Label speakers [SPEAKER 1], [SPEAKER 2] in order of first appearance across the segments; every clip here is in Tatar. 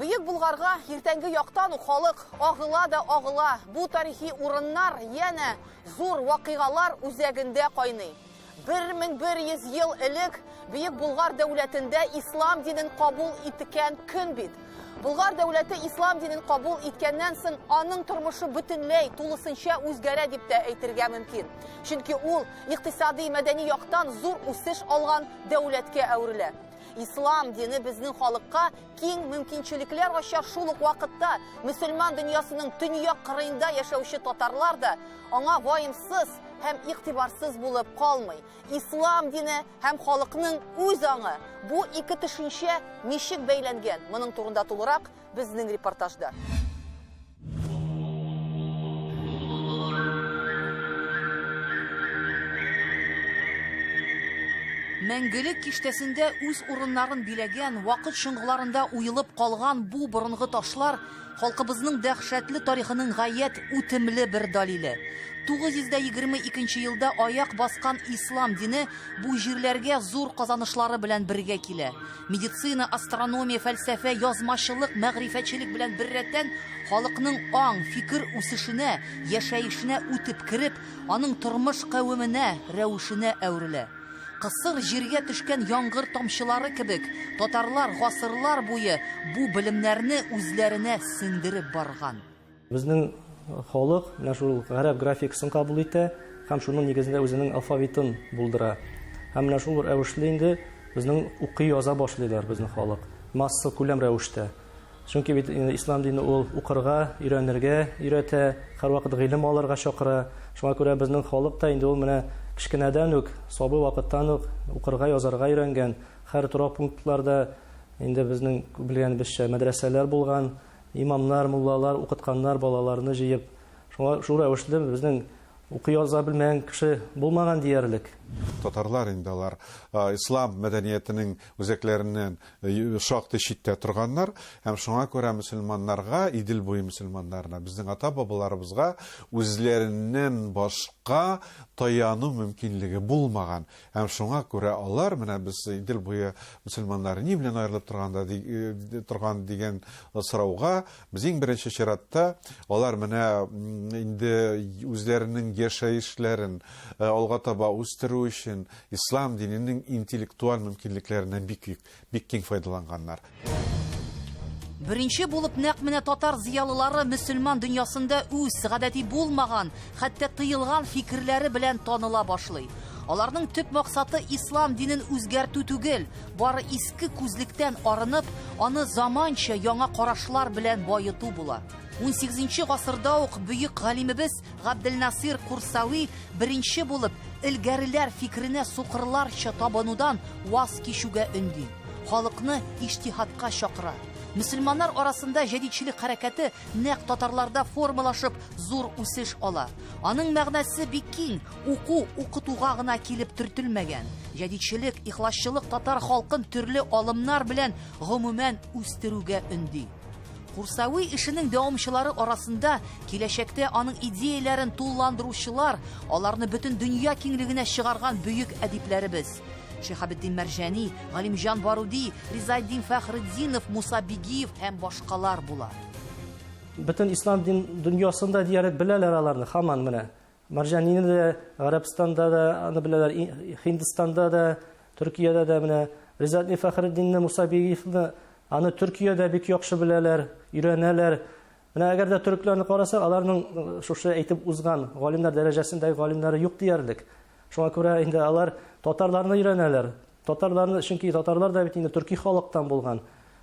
[SPEAKER 1] Бөек Булгарга иртәнге яктан ук халык агыла да агыла. Бу тарихи урыннар янә зур вакыйгалар үзәгендә кайный. 1100 ел элек Бөек Булгар дәүләтендә ислам динен кабул иткән көн бит. Булгар дәүләте ислам динен кабул иткәннән соң аның тормышы бөтенләй тулысынча үзгәрә дип тә әйтергә мөмкин. Чөнки ул икътисади мәдәни яктан зур үсеш алган дәүләткә әверелә. Ислам дине безнең халыкка киң мөмкинчелекләр ачар шул ук вакытта мөселман дөньясының төньяк кырыенда яшәүче татарлар да Аңа ваемсыз һәм игътибарсыз булып калмый. Ислам дине һәм халыкның үз аңы бу ике төшенчә ничек бәйләнгән? Моның турында тулырак безнең репортажда. Мәңгелек киштәсендә үз урыннарын биләгән, вакыт чоңгыларында уелып калган бу борынгы ташлар Халкыбызның дәһшәтле тарихының гаять үтемле бер далиле. 922 елда аяк баскан ислам дине бу җирләргә зур казанышлары белән бергә килә. Медицина, астрономия, фәлсәфә, язмачылык, мәгърифәтчелек белән беррәттән халыкның аң, фикер үсешенә, яшәешенә үтеп кереп, аның тормыш кавеменә, рәвешенә әверелә. Кысыр җиргә төшкән яңгыр тамчылары кебек, татарлар гасырлар буе бу белемнәрне үзләренә сеңдереп барган. Безнең
[SPEAKER 2] халык менә шул гарәп графикасын кабул итә һәм шуның нигезендә үзенең алфавитын булдыра. Һәм менә шул рәвешле инде безнең укый-яза башлыйлар безнең халык, массакүләм рәвештә. Чөнки бит инде ислам дине ул укырга, өйрәнергә өйрәтә, һәрвакыт гыйлем алырга чакыра. Шуңа күрә безнең халык та инде ул менә кечкенәдән үк, сабый вакыттан ук укырга, язарга өйрәнгән. Һәр торак пунктларда инде безнең белгәнебезчә мәдрәсәләр булган, имамнар, муллалар укытканнар балаларны җыеп. Шуңа шул рәвешле безнең укый-яза белмәгән кеше булмаган диярлек. Татарлар инде
[SPEAKER 3] алар ислам мәдәниятенең үзәкләреннән шактый читтә торганнар һәм шуңа күрә мөселманнарга, Идел буе мөселманнарына, безнең ата-бабаларыбызга үзләреннән башка таяну мөмкинлеге булмаган. Һәм шуңа күрә алар, менә без Идел буе мөселманнары ни белән аерылып торганда торган дигән сорауга Без иң беренче чиратта алар менә инде үзләренең яшәешләрен э, алга таба үстерү өчен ислам диненең интеллектуаль мөмкинлекләреннән бик бик киң файдаланганнар.
[SPEAKER 1] Беренче булып нәкъ менә татар зыялылары мөселман дөньясында үз гадәти булмаган, хәтта тыелган фикерләре белән таныла башлый. Аларның төп максаты ислам динен үзгәртү түгел, Бары иске күзлектән арынып, аны заманча яңа карашлар белән баету була. 18 гасырда ук бөек галимебез Габделнасир Курсави беренче булып элгәреләр фикеренә сукырларча табынудан ваз кичүгә өнди. Халыкны иҗтиһадка чакыра. Мөселманнар арасында җәдидчелек хәрәкәте нәкъ татарларда формалашып зур үсеш ала. Аның мәгънәсе бик киң, Уку укытуга гына килеп төртелмәгән. Җәдидчелек, ихласчылык татар халкын төрле алымнар белән гомумән үстерүгә өнди. Курсави эшенең дәвамчылары арасында киләчәктә аның идеяләрен тулыландыручылар, аларны бөтен дөнья киңлегенә чыгарган бөек әдипләребез. Шихабетдин Мәрҗани, Галимҗан Баруди, Ризаэддин Фәхретдинов, Муса Бигиев һәм башкалар була. Бөтен
[SPEAKER 2] ислам дин дөньясында диярлек беләләр аларны, хаман менә. Марҗанине дә Гарәбстанда да аны беләләр, Һиндстанда да, Төркиядә дә менә Ризатни Фәхретдинне, Муса Бигиевны аны Төркиядә бик яхшы беләләр, өйрәнәләр. Менә әгәр дә төрекләрне карасак, аларның шушы әйтеп узган галимнәр дәрәҗәсендәге галимнәре юк диярлек. Шуңа күрә инде алар татарларны өйрәнәләр. Татарларны, чөнки татарлар да бит инде төрки халыктан булган.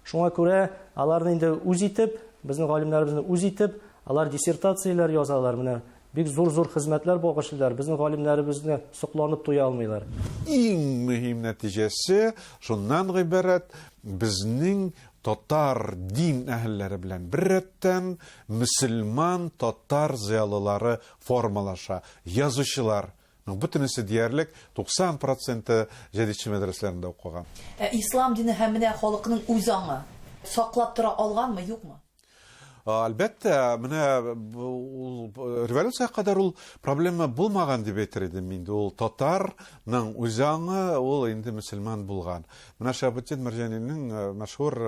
[SPEAKER 2] Шуңа күрә аларны инде үз итеп, безнең галимнәребезне үз итеп, алар диссертацияләр язалар. Менә бик зур-зур хезмәтләр багышлыйлар. Безнең галимнәребезне сокланып туя алмыйлар. Иң
[SPEAKER 3] мөһим нәтиҗәсе шуннан гыйбарәт, безнең татар дин әһелләре белән беррәттән мөселман татар зыялылары формалаша, язучылар Моның бөтенесе диярлек 90 проценты җәдитче мәдрәсәләрендә укыган. Ә ислам дине
[SPEAKER 1] һәм менә халыкның үз аңы саклап тора алганмы, юкмы?
[SPEAKER 3] Әлбәттә, менә ул революциягә кадәр ул проблема булмаган дип әйтер идем инде. Ул татарның үз аңы, ул инде мөселман булган. Менә Шәһабетдин Мәрҗанинең мәшһүр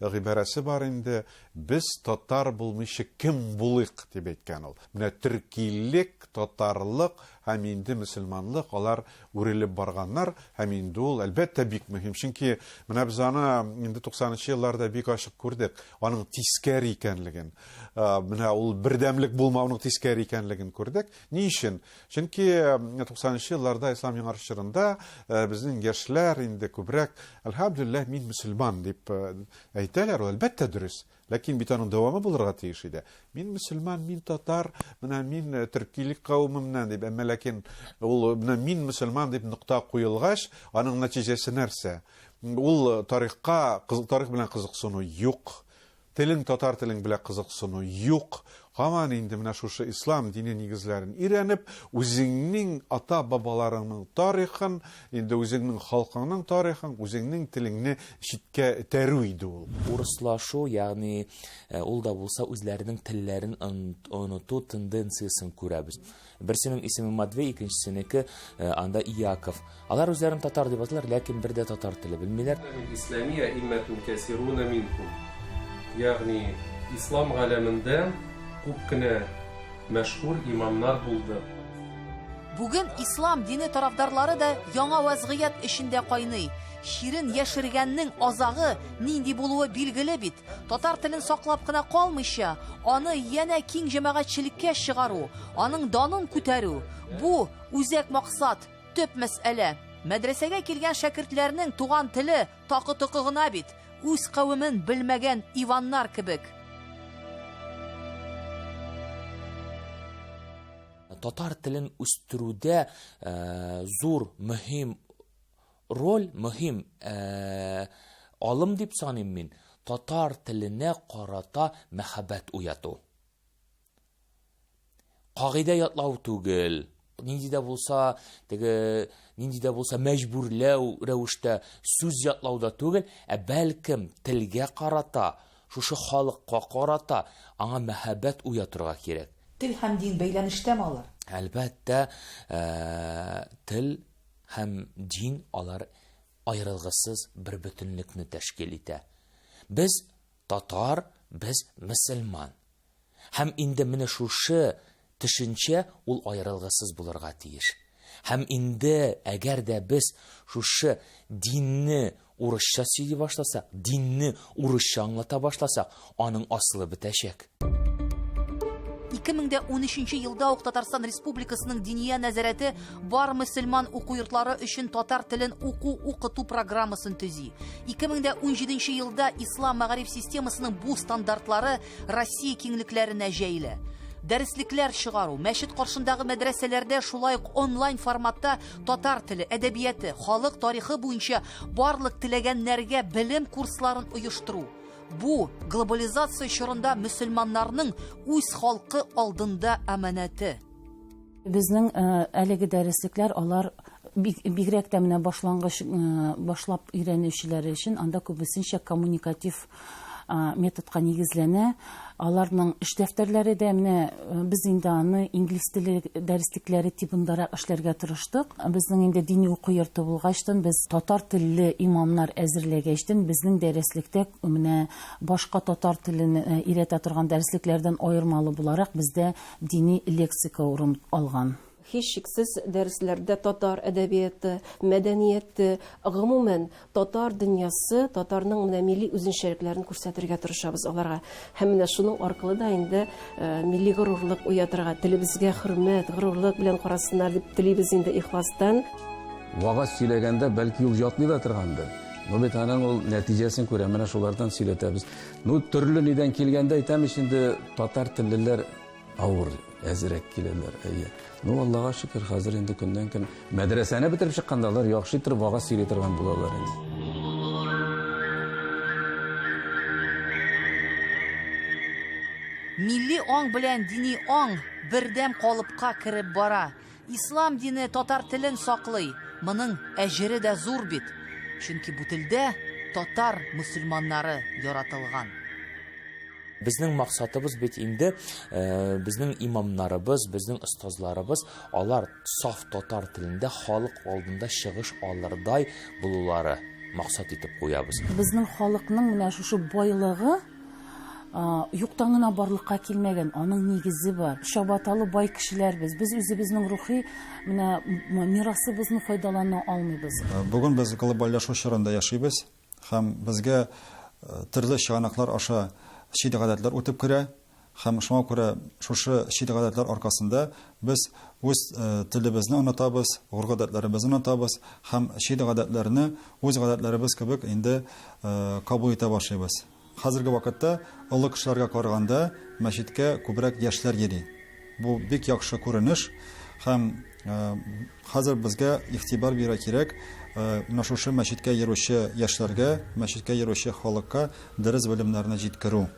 [SPEAKER 3] гыйбарәсе бар инде, Без татар булмыйча кем булыйк, дип әйткән ул. Менә төркилек, татарлык һәм инде мөселманлык, алар үрелеп барганнар һәм инде ул, әлбәттә, бик мөһим. Чөнки менә без аны инде 90 нчы елларда бик ачык күрдек, аның тискәре икәнлеген. Менә ул бердәмлек булмауның тискәре икәнлеген күрдек. Ни өчен? Чөнки 90 нчы елларда ислам яңарыш чорында безнең яшьләр инде күбрәк, әлхәмдүлилләһ, мин мөселман дип Әйтәләр, ул, әлбәттә, дөрес. Ләкин бит аның дәвамы булырга тиеш иде. Мин мөселман, мин татар, менә мин э, төркилек кавымыннан дип, әмма ләкин ул э, менә мин мөселман дип нокта куелгач, аның нәтиҗәсе нәрсә? Ул э, тарихка, тарих белән кызыксыну юк. Телең татар телең белән кызыксыну юк. Һаман инде менә шушы ислам дине нигезләрен өйрәнеп, үзеңнең ата-бабаларыңның тарихын, инде үзеңнең халкыңның тарихын, үзеңнең телеңне читкә этәрү иде ул. Урыслашу,
[SPEAKER 4] ягъни ул да булса үзләренең телләрен оныту тенденциясен күрәбез. Берсенең исеме Матвей, икенчесенеке э, анда Иаков. Алар үзләрен татар дип атыйлар, ләкин бер дә татар теле белмиләр. Исламия
[SPEAKER 5] иммәтун кәсируна минкум. Ягъни ислам галәмендә күп кенә мәшһүр имамнар булды. Бүген
[SPEAKER 1] ислам дине тарафдарлары да яңа вазгыять эчендә кайный. Чирен яшергәннең азагы нинди булуы билгеле бит. Татар телен саклап кына калмыйча, аны янә киң җәмәгатьчелеккә чыгару, аның данын күтәрү, бу үзәк максат, төп мәсьәлә. Мәдрәсәгә килгән шәкертләрнең туган теле такы-токы гына бит, үз кавемен белмәгән Иваннар кебек.
[SPEAKER 4] Татар телен үстерүдә зур, мөһим Роль мөһим Алым дип саныйм мин, татар теленә карата мәхәббәт уяту. Кагыйдә ятлау түгел, нинди дә булса, теге нинди дә булса мәҗбүрләү рәвештә сүз ятлауда түгел, ә бәлкем телгә карата, шушы халыкка карата аңа мәхәббәт уятырга кирәк. Тел һәм дин
[SPEAKER 1] бәйләнештәме алар? Әлбәттә,
[SPEAKER 4] тел Һәм дин, алар аерылгысыз бер бөтенлекне тәшкил итә. Без, татар, без, мөселман. Һәм инде менә шушы төшенчә ул аерылгысыз булырга тиеш. Һәм инде, әгәр дә без шушы динне Урысча сөйли башласак, динне урысча аңлата башласак, аның асылы бетәчәк.
[SPEAKER 1] 2013 елда ук Татарстан Республикасының Диния нәзарәте бар мөселман уку йортлары өчен татар телен уку укыту программасын төзи. 2017 елда ислам мәгариф системасының бу стандартлары Россия киңлекләренә җәелә. Дәреслекләр чыгару, мәчет каршындагы мәдрәсәләрдә шулай ук онлайн форматта татар теле, әдәбияты, халык тарихы буенча барлык теләгәннәргә белем курсларын оештыру. Бу глобализация чорында мөселманнарның үз халкы алдында аманаты.
[SPEAKER 6] Безнең э, әлеге дәреслекләр алар бигрәк тә менә башлангыч э, башлап өйрәнүчеләре өчен анда күбесенчә коммуникатив методка нигезләнә. Аларның эш дәфтәрләре дә менә э, без инде аны инглиз теле дәреслекләре тибындарак эшләргә тырыштык. Безнең инде дини уку йорты булгачтан без татар телле имамнар әзерләгәчтен безнең дәреслектә менә башка татар телен э, өйрәтә торган дәреслекләрдән аермалы буларак бездә дини лексика урын алган. Һичшиксез,
[SPEAKER 7] дәресләрдә татар әдәбияты, мәдәнияте, гомумән, татар дөньясы, татарның менә милли үзенчәлекләрен күрсәтергә тырышабыз аларга. Һәм менә шуның аркылы да инде милли горурлык уятырга, телебезгә хөрмәт, горурлык белән карасыннар дип телибез инде ихластан. Вагаз
[SPEAKER 8] сөйләгәндә, бәлки, ул ятмый да торгандыр. Ну бит аның ул нәтиҗәсен күрә, менә шулардан сөйләтәбез. Ну, төрле нидән килгәндә әйтәм ич инде, татар теллеләр Авыр, әзрәк киләләр, әйе. Ну, Аллага шөкер, хәзер инде көннән-көн мәдрәсәне бетереп чыкканда алар яхшы итеп вагаз сөйли торган булалар инде.
[SPEAKER 1] Милли аң белән дини аң бердәм калыпка кереп бара. Ислам дине татар телен саклый, моның әҗере дә зур бит, чөнки бу телдә татар мөселманнары яратылган.
[SPEAKER 4] Безнең максатыбыз бит инде э, безнең имамнарыбыз, безнең остазларыбыз алар саф татар телендә халык алдында чыгыш алырдай булулары максат итеп куябыз. Безнең халыкның
[SPEAKER 6] менә шушы байлыгы Юктан гына барлыкка килмәгән, аның нигезе бар. Чабаталы бай кешеләр без. Без үзебезнең рухи менә мирасыбызны файдалана алмыйбыз. Бүген без глобальләшү
[SPEAKER 9] чорында яшибез һәм безгә төрле чыганаклар аша чит гадәтләр үтеп керә. Һәм шуңа күрә шушы чит-гадәтләр аркасында без үз телебезне онытабыз, горгадәтләребезне онытабыз һәм чит-гадәтләрне үз гадәтләребез кебек инде кабул итә башлыйбыз. Хәзерге вакытта олы кешеләргә караганда мәчеткә күбрәк яшьләр йөри. Бу бик яхшы күренеш һәм хәзер безгә игътибар бирә кирәк менә шушы мәчеткә йөрүче яшьләргә, мәчеткә йөрүче халыкка дөрес белемнәрне җиткерү.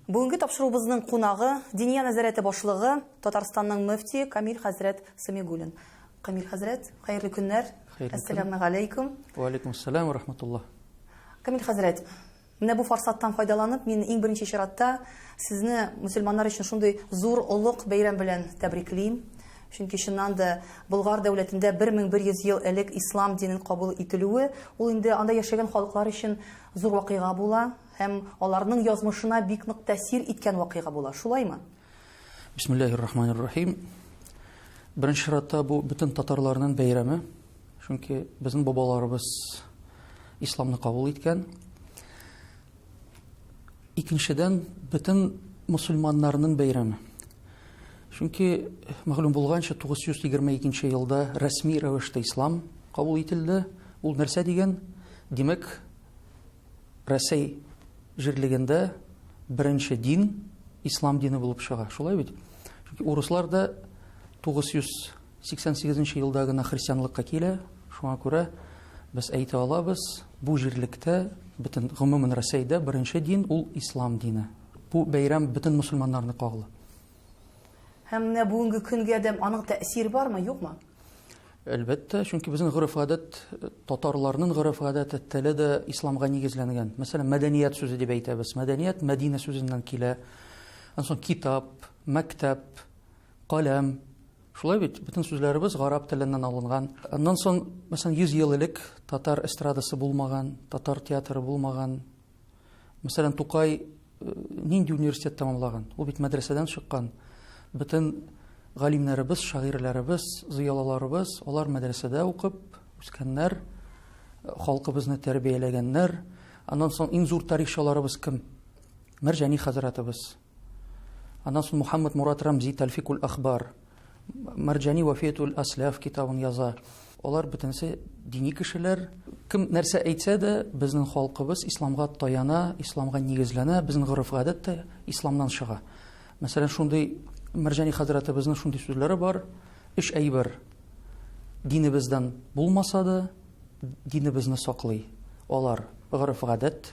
[SPEAKER 1] Бүгенге тапшыруыбызның кунагы, Диния нәзарәте башлыгы, Татарстанның мөфтие Камил хәзрәт Сәмигуллин. Камил хәзрәт, хәерле көннәр. Хәерле көн. Әссәләмегаләйкүм. Вәаләйкүмәссәләм вә
[SPEAKER 10] рахмәтуллаһ. Камил
[SPEAKER 1] хәзрәт, Менә бу форсаттан файдаланып, мин иң беренче чиратта сезне мөселманнар өчен шундый зур олуг бәйрәм белән тәбриклим. Чөнки чыннан да Болгар дәүләтендә 1100 ел элек ислам динен кабул ителүе, ул инде анда яшәгән халыклар өчен зур вакыйга була һәм аларның язмышына бик нык тәэсир иткән вакыйга була. Шулаймы? Бисмиллахир рахманир рахим.
[SPEAKER 10] Беренче чиратта бу бөтен татарларның бәйрәме. Чөнки безнең бабаларыбыз исламны кабул иткән. Икенчедән, бөтен мусульманнарның бәйрәме. Чөнки мәгълүм булганча 922 елда рәсми рәвештә ислам кабул ителде. Ул нәрсә дигән? Димәк, Рәсәй җирлегендә беренче дин ислам дине булып чыга. Шулай бит? Чөнки урыслар да 988 елда гына христианлыкка килә. Шуңа күрә без әйтә алабыз, бу җирлектә, бөтен гомумән Рәсәйдә беренче дин ул ислам дине. Бу бәйрәм бөтен мөселманнарны кагыла.
[SPEAKER 1] Һәм менә бүгенге көнгә дә аның тәэсире бармы, юкмы? Әлбәттә,
[SPEAKER 10] чөнки безнең гореф-гадәт, татарларның гореф-гадәте, теле дә исламга нигезләнгән. Мәсәлән, мәдәният сүзе дип әйтәбез. Мәдәният Мәдинә сүзеннән килә. Аннан китап, мәктәп, каләм, Шулай бит, бөтен сүзләребез гарап теленнән алынган. Аннан соң, мәсәлән, 100 ел элек татар эстрадасы булмаган, татар театры булмаган, Мәсәлән, Тукай э, нинди университет тәмамлаган? Ул бит мәдрәсәдән чыккан. Бөтен галимнәребез, шагыйрьләребез, зыялыларыбыз, алар мәдрәсәдә укып үскәннәр, э, халкыбызны тәрбияләгәннәр. Аннан соң иң зур тарихчыларыбыз кем? Мәрҗани хәзрәтебез. Аннан соң Мухаммад Мурат Рамзи Тәлфикул Ахбар, Марҗани Вафиятул Асләф китабын яза. Алар бөтенесе дини кешеләр. Кем нәрсә әйтсә дә, безнең халкыбыз исламга таяна, исламга нигезләнә, безнең гореф-гадәт тә исламнан чыга. Мәсәлән, шундый Мәрҗани хәзрәтебезнең шундый сүзләре бар, Өч әйбер динебездән булмаса да, динебезне саклый. Алар гореф-гадәт,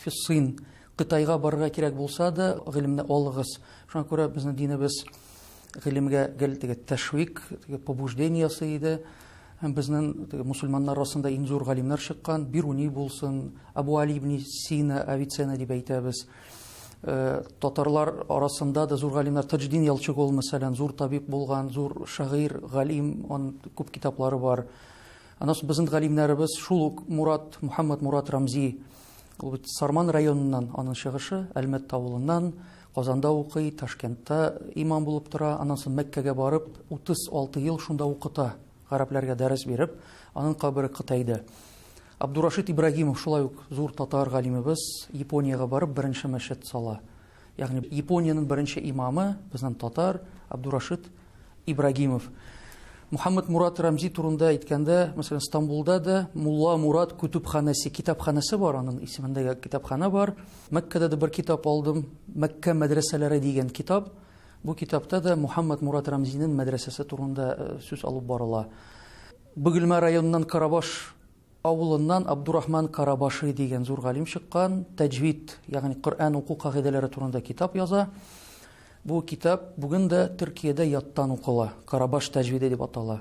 [SPEAKER 10] Фиссын, Кытайга барырга кирәк булса да, гыйлемне алыгыз. Шуңа күрә безнең динебез гыйлемгә гел теге тәшвик, теге побуждение ясый иде. Һәм безнең теге мусульманнар арасында иң зур галимнәр чыккан, Бируни булсын, Абу Али ибн Сина, Авиценна дип әйтәбез. Э, татарлар арасында да зур галимнәр Таҗдин Ялчыгол мәсәлән, зур табиб булган, зур шагыйрь, галим, он күп китаплары бар. Аннан соң безнең галимнәребез шул ук Мурат, Мухаммад Мурат Рамзи, ул бит Сарман районыннан, аның чыгышы Әлмәт авылыннан, Казанда укый, Ташкентта имам булып тора, аннан соң Мәккәгә барып, 36 ел шунда укыта, гарәпләргә дәрес биреп, аның кабере Кытайда. Абдурашид Ибрагимов шулай ук зур татар галимебез, Япониягә барып беренче мәчет сала. Ягъни Япониянең беренче имамы, безнең татар, Абдурашид Ибрагимов. Мухаммад Мурат Рамзи турында әйткәндә, мәсәлән, Стамбулда да Мулла Мурат күтүбханәсе, китапханәсе бар, аның исемендә китапханә бар. Мәккәдә дә бер китап алдым, Мәккә мәдрәсәләре дигән китап. Бу китапта да Мухаммад Мурат Рамзинең мәдрәсәсе турында э, сүз алып барыла. Бөгелмә районыннан Карабаш Авылыннан Абдурахман Карабаши дигән зур галим чыккан, Таҗвид, ягъни Коръән уку кагыйдәләре турында китап яза. Бу китап бүген дә Төркиядә яттан укыла, Карабаш таҗвиде дип атала.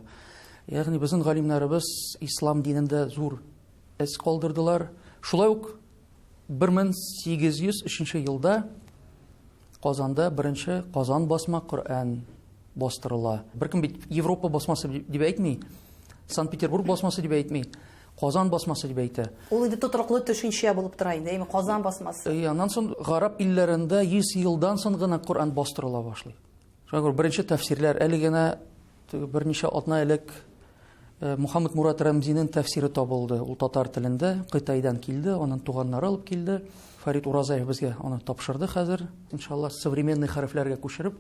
[SPEAKER 10] Ягъни безнең галимнәребез ислам динендә зур эз калдырдылар. Шулай ук 1803 елда Казанда беренче Казан басма Коръән бастырыла. Беркем бит Европа басмасы дип әйтми, Санкт-Петербург басмасы дип әйтми, Казан басмасы дип әйтә. Ул инде тотрыклы
[SPEAKER 1] төшенчә булып тора инде, әйме Казан басмасы. Э, аннан соң гараб
[SPEAKER 10] илләрендә 100 елдан соң гына Коръән бастырыла башлый. Шуңа күрә беренче тәфсирләр әле генә берничә атна элек э, Мухаммад Мурат Рәмзинең тәфсире табылды. Ул татар телендә Кытайдан килде, аның туганнары алып килде. Фарид Уразаев безгә аны тапшырды хәзер. Иншалла современный хәрефләргә күчереп,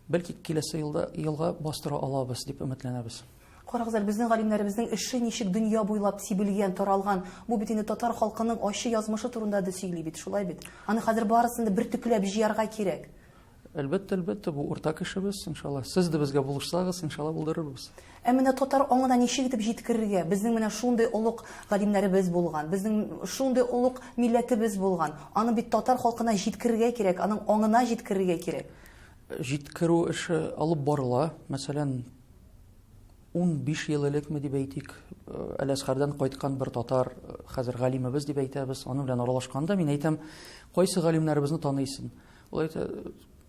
[SPEAKER 10] бәлки киләсе елда елга бастыра алабыз дип өметләнәбез. Карагыз әле безнең
[SPEAKER 1] галимнәребезнең эше ничек дөнья буйлап сибелгән, таралган. Бу бит инде татар халкының ачы язмышы турында да сөйли бит, шулай бит. Аны хәзер барысын да бер төкләп җыярга кирәк. Әлбәттә, әлбәттә,
[SPEAKER 10] бу уртак эшебез, иншалла. Сез дә безгә булышсагыз, иншалла, булдырырбыз. Ә менә татар
[SPEAKER 1] аңына ничек итеп җиткерергә? Безнең менә шундый олуг галимнәребез булган, безнең шундый олуг милләтебез булган. Аны бит татар халкына җиткерергә кирәк, аның аңына җиткерергә кирәк. Җиткерү
[SPEAKER 10] эше алып барыла. Мәсәлән, унбиш ел элекме дип әйтик, Әләсхәрдән кайткан бер татар, хәзер галимебез дип әйтәбез, аның белән аралашканда мин әйтәм, кайсы галимнәребезне таныйсың? Ул әйтә,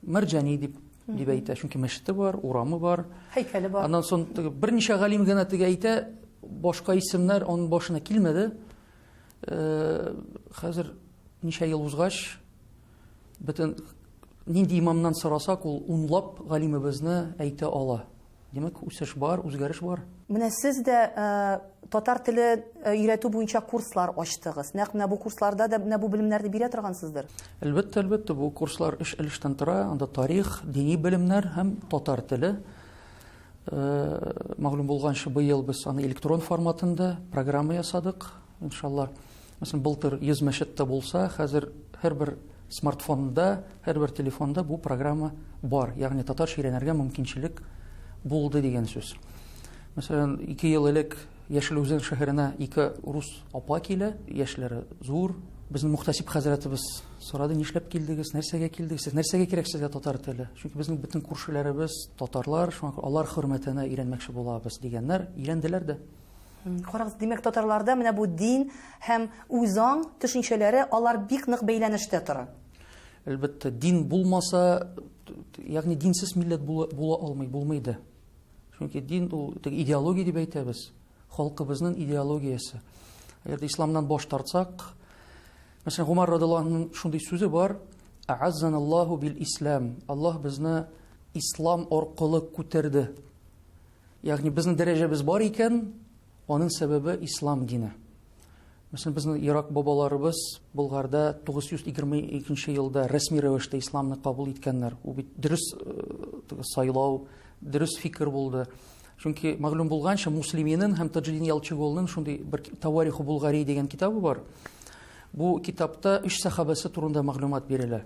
[SPEAKER 10] Мәрҗани дип дип әйтә, чөнки мәчете бар, урамы бар. Һәйкәле бар. Аннан
[SPEAKER 1] соң берничә
[SPEAKER 10] галим генә теге әйтә, башка исемнәр аның башына килмәде. Э, хәзер ничә ел узгач, бөтен нинди имамнан сорасак, ул унлап галимебезне әйтә ала. Димәк, үсеш бар, үзгәреш бар. Менә сез дә
[SPEAKER 1] татар теле өйрәтү буенча курслар ачтыгыз. Нәкъ менә бу курсларда да менә бу белемнәрне бирә торгансыздыр. Әлбәттә, әлбәттә, бу
[SPEAKER 10] курслар өч өлештән тора. Анда тарих, дини белемнәр һәм татар теле. Мәгълүм булганча, быел без аны электрон форматында программа ясадык. Иншалла, мәсәлән, былтыр 100 мәчет тә булса, хәзер һәрбер смартфонда, һәрбер телефонда бу программа бар. Ягъни татарча өйрәнергә мөмкинчелек булды дигән сүз. Мәсәлән, 2 ел элек Яшел Үзән шәһәренә ике рус апа килә, яшьләре зур. Безне мөхтәсиб хәзрәтебез сорады, нишләп килдегез, нәрсәгә килдегез, сез нәрсәгә кирәк сезгә татар теле? Чөнки безнең бөтен күршеләребез татарлар, шуңа күрә алар хөрмәтенә өйрәнмәкче булабыз, дигәннәр, өйрәнделәр дә. Карагыз, димәк,
[SPEAKER 1] татарларда менә бу дин һәм үзаң төшенчәләре алар бик нык бәйләнештә тора. Әлбәттә,
[SPEAKER 10] дин булмаса, ягъни динсез милләт була, була алмый, булмый да. Чөнки дин ул идеология дип әйтәбез, халкыбызның идеологиясе. Әгәр исламнан баш тартсак, мәсәлән, Гомар радиллаһының шундый сүзе бар: "А'аззаналлаху бил ислам". Аллаһ безне ислам аркылы күтәрде. Ягъни безнең дәрәҗәбез бар икән, аның сәбәбе ислам дине. Мәсәлән, безнең Ирак бабаларыбыз Болгарда 922 елда рәсми рәвештә исламны кабул иткәннәр. Ул бит дөрес э, сайлау, дөрес фикер булды. Чөнки мәгълүм булганча, Муслиминен һәм Таҗидин Ялчыголның шундый бер Тавариху Булгари дигән китабы бар. Бу китапта үч сахабасы турында мәгълүмат бирелә.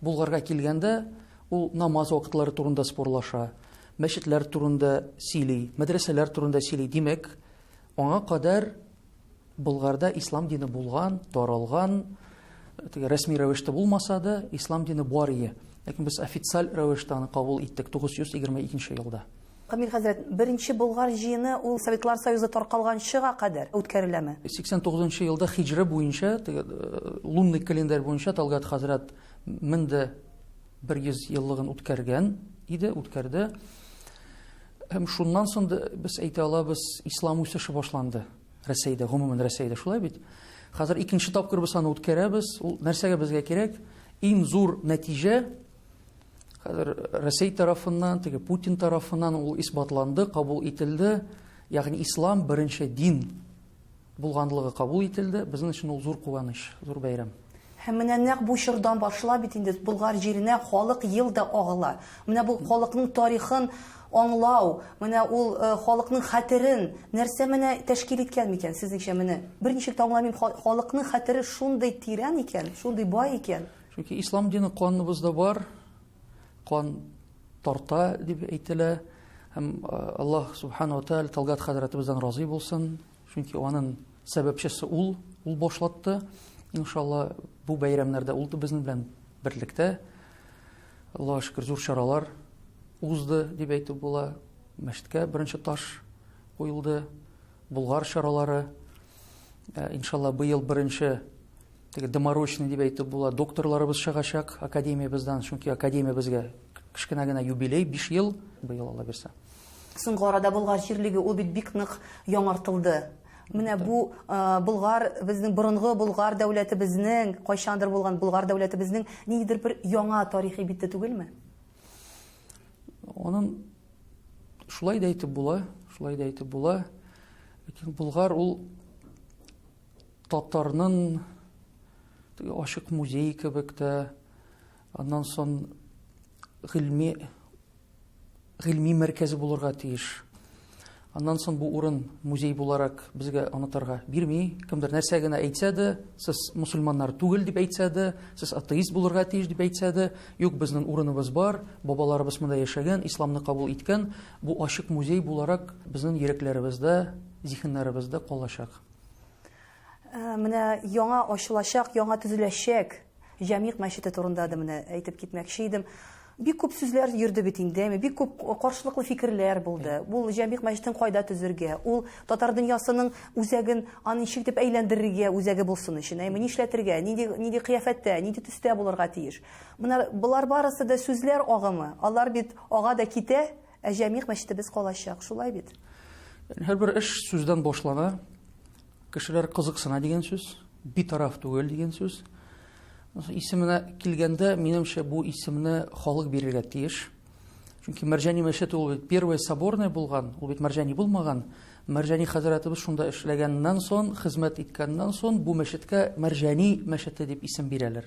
[SPEAKER 10] Болгарга килгәндә, ул намаз вакытлары турында спорлаша, мәчетләр турында сөйли, мәдрәсәләр турында сөйли. Димәк, аңа кадәр Болгарда ислам дине булган, таралган, теге рәсми рәвештә булмаса да, ислам дине бар ие. Ләкин без официаль рәвештә аны кабул иттек 922 елда. Камил хәзрәт,
[SPEAKER 1] беренче Болгар җыены ул Советлар Союзы таркалганчыга кадәр үткәреләме? 89 нчы елда
[SPEAKER 10] хиҗра буенча, теге лунный календарь буенча Талгат хәзрәт мең дә бер йөз еллыгын үткәргән иде, үткәрде. Һәм шуннан соң да без әйтә алабыз, ислам үсеше башланды Рәсәйдә, гомумән Рәсәйдә шулай бит. Хәзер икенче тапкыр без аны үткәрәбез. Ул нәрсәгә безгә кирәк? Иң зур нәтиҗә Хәзер Россия тарафыннан, теге Путин тарафыннан ул исбатланды, кабул ителде. Ягъни ислам беренче дин булганлыгы кабул ителде. Безнең өчен ул зур куаныч, зур бәйрәм. Һәм менә нәкъ
[SPEAKER 1] бу чордан башлап бит инде Болгар җиренә халык ел да агыла. Менә бу халыкның тарихын аңлау, менә ул э, халыкның хәтерен нәрсә менә тәшкил иткән микән сезнеңчә менә? Берничек тә аңламыйм, халыкның хәтере шундый тирән икән, шундый бай икән. Чөнки ислам дине
[SPEAKER 10] каныбызда бар, кан тарта дип әйтелә. Һәм Аллаһ субхану ва тааля Талгат хәзрәтебездән разый булсын. Чөнки аның сәбәпчесе ул, ул башлатты. Иншалла бу бәйрәмнәрдә ул да безнең белән берлектә. Аллаһ шөкер зур чаралар узды дип әйтеп була. Мәчеткә беренче таш куелды. Булгар чаралары Ә, иншалла быел беренче теге доморочный дип әйтеп була докторларыбыз чыгачак академиябездән чөнки академиябезгә кечкенә генә юбилей биш ел быел алла бирсә соңгы арада
[SPEAKER 1] болгар җирлеге ул бит бик нык яңартылды менә бу ә, болгар безнең борынгы болгар дәүләтебезнең кайчандыр булган болгар дәүләтебезнең ниндидер бер яңа тарихи бите түгелме
[SPEAKER 10] Онын шулай да әйтеп була, шулай да әйтеп була. Ләкин Булгар ул татарның ашык музей кебек тә аннан сон гыйльми гыйльми мәркәзе булырга тиеш. Аннан соң бу урын музей буларак безгә онытырга бирми. Кемдер нәрсә генә әйтсә дә, сез мусульманнар түгел дип әйтсә дә, сез атеист булырга тиеш дип әйтсә дә, юк, безнең урыныбыз бар, бабаларыбыз монда яшәгән, исламны кабул иткән, бу ачык музей буларак безнең йөрәкләребездә, зиһеннәребездә калачак.
[SPEAKER 1] Менә яңа ачылачак, яңа төзеләчәк Җәмигъ мәчете турында да менә әйтеп китмәкче идем. Бик күп сүзләр йөрде бит инде, әйме, бик күп каршылыклы фикерләр булды. Ул Җәмигъ мәчетен кайда төзергә, ул татар дөньясының үзәген аны ничек дип әйләндерергә, үзәге булсын өчен, әйме, нишләтергә, нинди нинди кыяфәттә, нинди төстә булырга тиеш. Менә болар барысы да сүзләр агымы. Алар бит ага да китә, ә Җәмигъ мәчетебез калачак. Шулай бит? Һәрбер
[SPEAKER 10] эш сүздән башлана. Кешеләр кызыксына дигән сүз, битараф түгел дигән сүз. Исеменә килгәндә, минемчә, бу исемне халык бирергә тиеш. Чөнки Мәрҗани мәчете ул бит первый соборный булган, ул бит Мәрҗани булмаган. Мәрҗани хәзрәтебез шунда эшләгәннән соң, хезмәт иткәннән соң бу мәчеткә Мәрҗани мәчете дип исем бирәләр.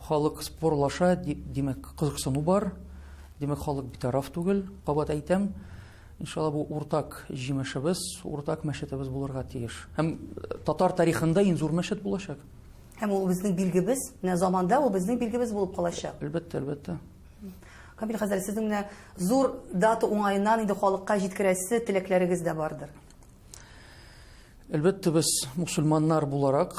[SPEAKER 10] Халык спорлаша, димәк, кызыксыну бар. Димәк, халык битараф түгел. Кабат әйтәм, иншалла бу уртак җимешебез, уртак мәчетебез булырга тиеш. Һәм татар тарихында иң зур мәчет булачак. Һәм ул безнең
[SPEAKER 1] билгебез, менә заманда ул безнең билгебез булып калачак. Әлбәттә, әлбәттә.
[SPEAKER 10] Камил
[SPEAKER 1] хәзрәт, сезнең менә зур дата уңаеннан инде халыкка җиткерәсе теләкләрегез дә бардыр.
[SPEAKER 10] Әлбәттә, без мусульманнар буларак,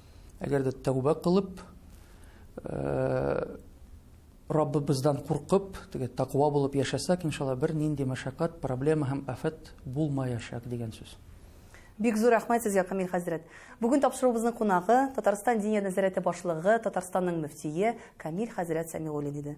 [SPEAKER 10] Әгәр дә тәүбә кылып, Раббыбыздан куркып, теге тақва булып яшәсәк, иншалла, бер нинди мәшәкать, проблема һәм афәт булмаячак дигән сүз. Бик зур
[SPEAKER 1] рәхмәт сезгә, Камил хәзрәт. Бүген тапшыруыбызның кунагы Татарстан Диния нәзарәте башлыгы, Татарстанның мөфтие Камил хәзрәт Сәмигуллин иде.